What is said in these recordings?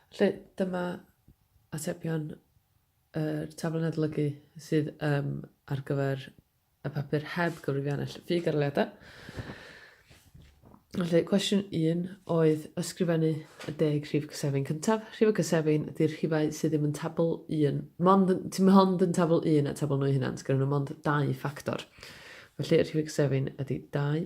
Felly, dyma atebion yr tablen adolygu sydd um, ar gyfer y papur heb gyfrifiannell ffug ar leadau. Felly, cwestiwn 1 oedd ysgrifennu y deg rhif cysefin cyntaf. Rhif y cysefin ydy'r rhifau sydd ddim yn tabl 1, mond, ti'n mond yn tabl 1 a tabl nhw hynna, gyda nhw mond dau ffactor. Felly, rhif y cysefin ydy 2,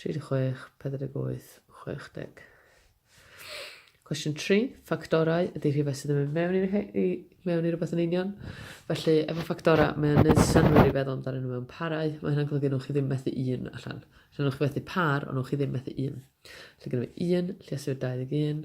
36, 48, 60. Cwestiwn 3. Ffactorau ydy rhywbeth sydd yn mynd mewn i, i mewn i rhywbeth yn union. Felly, efo ffactorau, mae'n gwneud synwyr i feddwl amdano nhw mewn parau. Mae hynna'n golygu nhw'n chi ddim methu un allan. Felly, nhw'n chi methu par, ond nhw'n chi ddim methu un. Felly, gyda fi un, lluosur 21.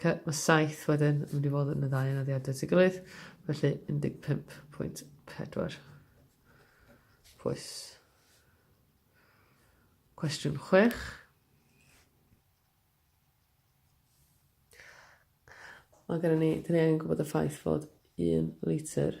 Okay, mae 7 wedyn yn mynd i fod yn y ddau anaddiad at ei gilydd, felly 15.4. Pwys. Cwestiwn 6. Mae gen i ni, dyn ni angen gwybod y ffaith fod 1 litr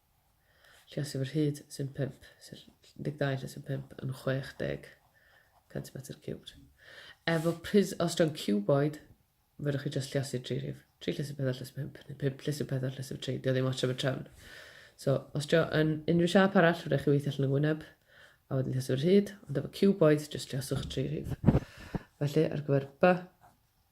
Lle sydd fy rhyd sy'n 5, sef 12 lle sy'n 5 yn 60 centimetr ciwbd. Efo pris, os dwi'n cuboid, fydwch chi just lliasu tri rhif. Tri lle sy'n 4 lle sy'n 5, neu 5 lle sy'n 4 lle sy'n 3, dio ddim ots am y trefn. So, os dio yn unrhyw siap arall, fydwch chi weithio allan yn gwyneb, a wedyn lliasu fy rhyd, ond efo cuboid, just lliaswch tri rhif. Felly, ar gyfer B,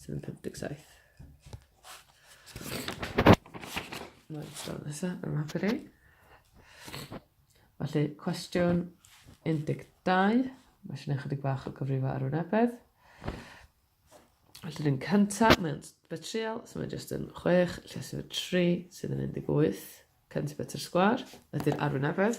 Sydd yn 57. Mae'n sôn nesaf yn mapur i. Felly, cwestiwn 12. Mae sy'n ychydig bach o gyfrifo ar wynebedd. Felly, yn cyntaf, mae'n betriol, so mae jyst yn 6, lle sydd yn 3, sydd yn 18. Cyntaf betr sgwar, ydy'r arwynebedd.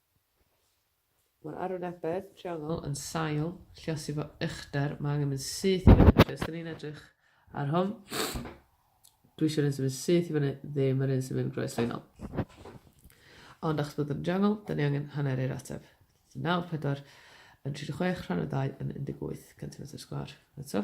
Mae'r arwynebedd triongl yn sail lluosi fo uchder. Mae angen mynd syth i fyny. Felly, os da ni'n edrych ar hwn, dwi eisiau'r un sy'n mynd syth i fyny, ddim yr un sy'n mynd groesleinol. Ond achos bod yn triongl, da ni angen hanner i'r ateb. 94 yn 36 rhan o 2 yn 18 cm sgwar. Eto.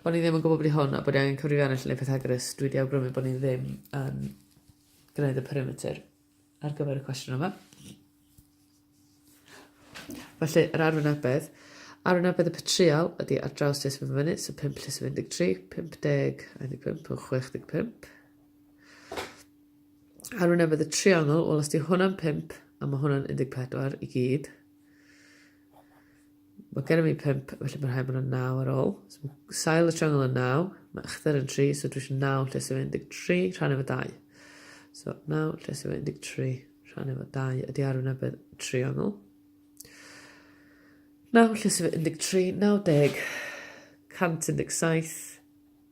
Bod ni ddim yn gwybod bod hi hwn a bod ni angen cyfrifiannell neu Pythagoras, dwi wedi awgrymu bod ni ddim yn gwneud y perimeter ar gyfer y cwestiwn yma. Felly, yr arwynebedd. Arwynebedd y patrial ydy ar draws tes mynd fyny, so 5 tes 13, 50, 15, 65. Arwynebedd y triongl, wel os di hwnna'n 5, a mae hwnna'n 14 i gyd, Mae gennym ni pump, felly mae'n rhaid bod yna naw ar ôl. So mae sail y triongl yn naw, mae ychdder yn tri, so dwi eisiau naw lle sef 13 rhan efo dau. So naw lle sef 13 rhan efo dau ydy arwynebedd triongl. Naw lle sef 13, 90, 117,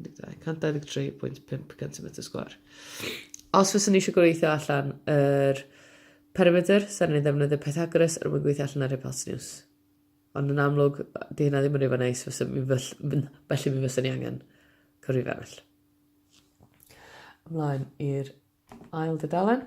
12, 123.5 centimetr sgwar. Os fyswn ni eisiau gweithio allan yr perimeter, sa'n ni'n ddefnyddio Pythagoras er mwyn gweithio allan yr hypotenws. Ond yn amlwg, di hynna ddim yn rhywbeth neis, felly mi fyswn ni angen cyrru arall. Ymlaen i'r ail dydalen.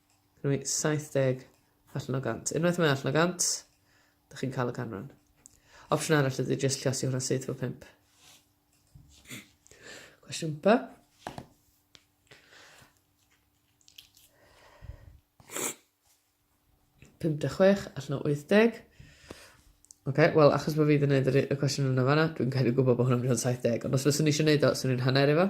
Gynna fi 70 allan o 100. Unwaith mae allan o 100, da chi'n cael y canran. Opsiwn arall ydy jyst llosio hwnna syth fo 5. Cwestiwn ba? Pum de chwech allan o 80. Ok, wel, achos bod fi wedi gwneud y cwestiwn yna fanna, dwi'n cael ei gwybod bod hwnna'n mynd o'n 70. Ond os fyswn i eisiau gwneud o, swn i'n hanner efo.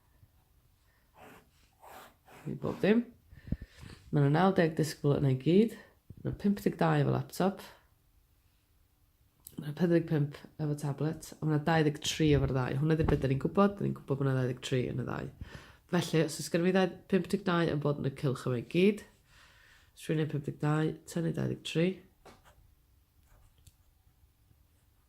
I bob dim. Mae yna 90 disgybl yna i gyd. Mae yna 52 efo laptop. Mae yna 45 efo tablet. A mae yna 23 efo'r ddau. Hwna ddim beth da ni'n gwybod. Da ni'n gwybod bod yna 23 yn y ddau. Felly, os oes gen i 52 yn bod yn y cylch yma i gyd, os rwy'n ei 52, tynnu 23,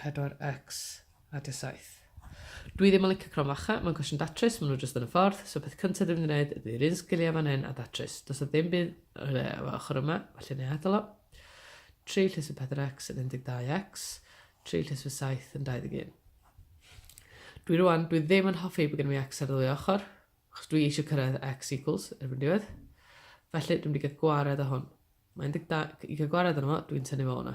4X a dy saith. Dwi ddim yn licio crom facha, mae'n cwestiwn datrys, maen nhw jyst yn y ffordd, so peth cynta dwi'n mynd i wneud ydy yr un sgiliau fan hyn a datrys. Does na ddim byd yr e efo ochr yma, felly neu adael o. 3 llys y 4x yn 12x, 3 llys fy 7 yn 21. Dwi rwan, dwi ddim yn hoffi bod gen i x ar ddwy ochr, achos dwi eisiau cyrraedd x equals erbyn diwedd. Felly dwi'n mynd i gael gwared o hwn. Mae 12, i gael gwared o'n fo, dwi'n tynnu fo hwnna.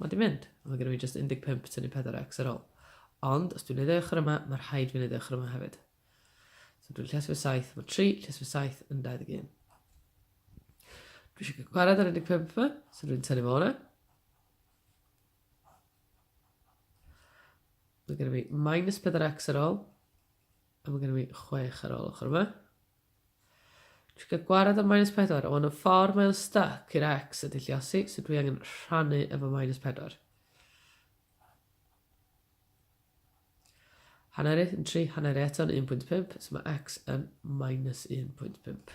Mae 'di mynd. Mae genna fi jyst 15 tynnu 4x ar ol. Ond, os dwi'n neud y ochr yma, mae rhaid fi neud y ochr yma hefyd. So dwi'n llesio fy 7, mae 3 llesio fy 7 yn 21. Dwi eisiau cael gwared ar 15 yma, so dwi'n tynnu fo hwnna. Mae gennym ni minus 4x ar ôl. A mae gennym ni 6 ar ôl ochr yma. Dwi'n cael gwared am minus 4. O, yn y ffordd mae o'n stuck i'r X y dilliosi, so dwi angen rhannu efo minus 4. Hanner i yn 3, hanner i eto'n 1.5, so mae x yn minus 1.5.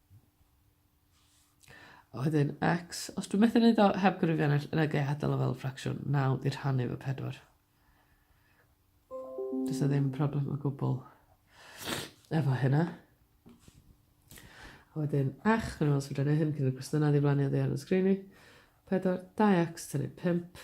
A wedyn x, os dwi'n methu wneud o heb gyrifiannell, yna gai adael o fel ffracsiwn, 9 di rhannu efo 4. Does na ddim problem o gwbl efo hynna. A wedyn x, rwy'n meddwl sy'n rhaid hyn cyn y gwestiynau ddiflannu o ddear yn sgrini. 4, 2x tynnu 5.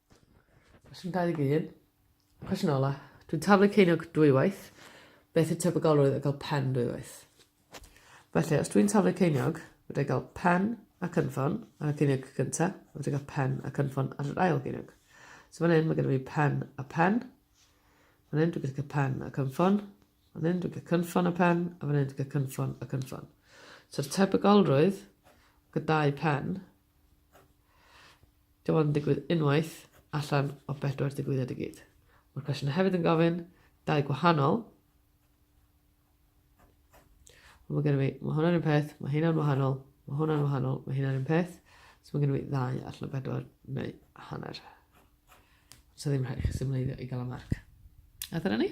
Cwestiwn 21. Cwestiwn ola. Dwi'n taflu ceiniog dwywaith. Beth yw tebygolrwydd o gael pen dwywaith? Felly, os dwi'n taflu ceiniog, fydda i gael pen a cynffon ar y ceiniog gyntaf, a fydda i gael pen a cynffon ar yr ail geiniog. So fan hyn, mae gennym ni pen a pen. Fan hyn, dwi'n gallu cael pen a cynffon. Fan hyn, dwi'n cael cynffon a pen, a fan hyn, dwi'n cael cynffon a cynffon. So'r tebygolrwydd gydau pen Dim ond yn digwydd unwaith allan o bedwar digwyddiad i gyd. Mae'r cwestiwn hefyd yn gofyn dau gwahanol. Mae gen i fi, mae hwnna'n un peth, mae hynna'n wahanol, mae hwnna'n wahanol, mae hynna'n un peth. So mae gen i fi ddau allan o bedwar neu hanner. So ddim rhaid i chi symleiddio i gael y marc. A dyna ni.